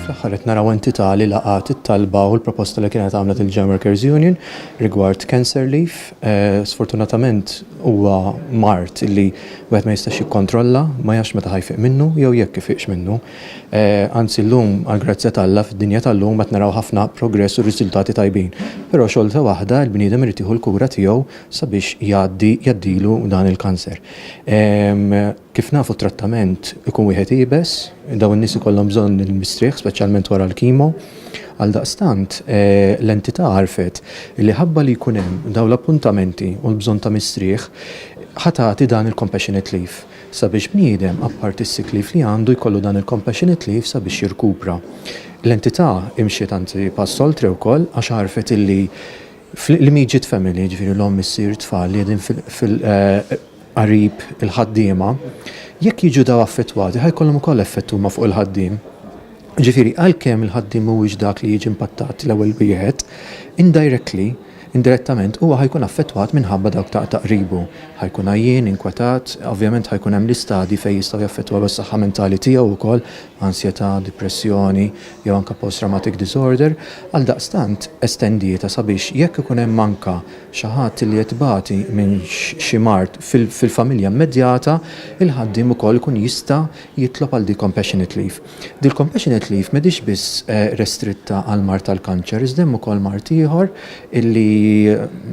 Fl-aħħar qed naraw entità li laqgħet it-talba u l-proposta li kienet għamlet il-Jam Workers Union rigward cancer leave. Eh, sfortunatament huwa mart li wieħed ma jistax jikkontrolla, ma jax meta ħajfiq minnu jew jekk ifiqx minnu. Eh, anzi llum għall-grazzja t'Alla fid-dinja tal-lum qed naraw ħafna progress u riżultati tajbin. Però xorta waħda l-bniedem irid jieħu l-kura tiegħu sabiex jgħaddi jgħaddilu dan il-kanser. Ehm, Kif nafu t-trattament ikun wieħed iebes, dawn in-nies ikollhom bżonn il-mistrieħ speċjalment wara l-kimo. Għaldaqstant, l-entità għarfet li ħabba li jkun hemm dawn l-appuntamenti u l-bżonn ta' mistrieħ, ħa tagħti dan il-compassionate leave sabiex bniedem, apparti s-sick leave li għandu, jkollu dan il-compassionate leave sabiex jirkupra. L-entità imxiet anzi pass oltre wkoll għax għarfet illi fl-immediate family, jiġifieri l-omm, is-sir, it-tfal li qegħdin fil-, qarib il-ħaddiema, jekk jiġu daw affettwati ħa jkollhom ukoll effett huma fuq il-ħaddiem. Ġifieri għalkemm il-ħaddiem mhuwiex dak li jiġi impattat l-ewwel wieħed, indirectly, indirettament huwa ħa jkun affettwat minħabba dawk ta' ta' qribu. Ħa jkun għajjien, inkwetat, ovvjament ħa jkun hemm l-istadji fejn jistgħu jaffettwaw is-saħħa mentali tiegħu wkoll, ansjetà, dipressjoni, jew anke post-traumatic disorder. Għaldaqstant, estendietha sabiex jekk ikun hemm anke xi ħadd li qed ibati minn xi mard fil-familja immedjata, il-ħaddiem ukoll ikun jista' jitlob għal dik compassionate leave. Dil-compassionate leave m'hidhiex biss restritta għall-mard tal-kanċer iżda hemm ukoll mard ieħor illi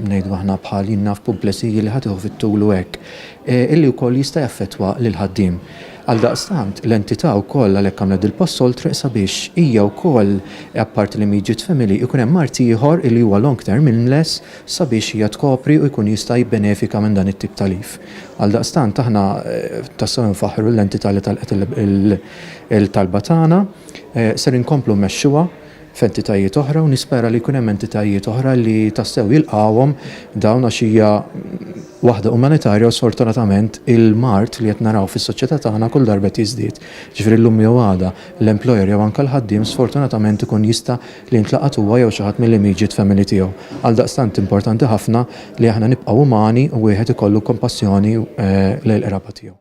ngħidu aħna bħal jien naf pumplesy li ħa tieħu fit-tul u hekk, illi wkoll jista' jaffettwa lill-ħaddiem. Għaldaqstant, l-entità wkoll għalhekk għamlet dil-pass oltre sabiex hija wkoll, apparti l-immediate family, ikun hemm mart ieħor illi huwa long-term illness sabiex hija tkopri u jkun jista' jibbenefika minn dan it-tip ta' leave. Għaldaqstant, aħna tassew infaħħru lill-entità li talqet il-talba tagħna. Ser inkomplu mmexxuha. f'entitajiet oħra u nispera li jkun hemm entitajiet oħra li tassew jilqgħuhom dawn għax hija waħda umanitarja u sfortunatament il-mard li qed naraw fis-soċjetà tagħna kull darba qed jiżdied. Jiġifieri llum jew għada l-employer jew anke l-ħaddiem sfortunatament ikun jista' li jintlaqat huwa jew xi ħadd mill-immieġiet femmili tiegħu. Għaldaqstant importanti ħafna li aħna nibqgħu umani u wieħed ikollu kompassjoni lejn l-qraba tiegħu.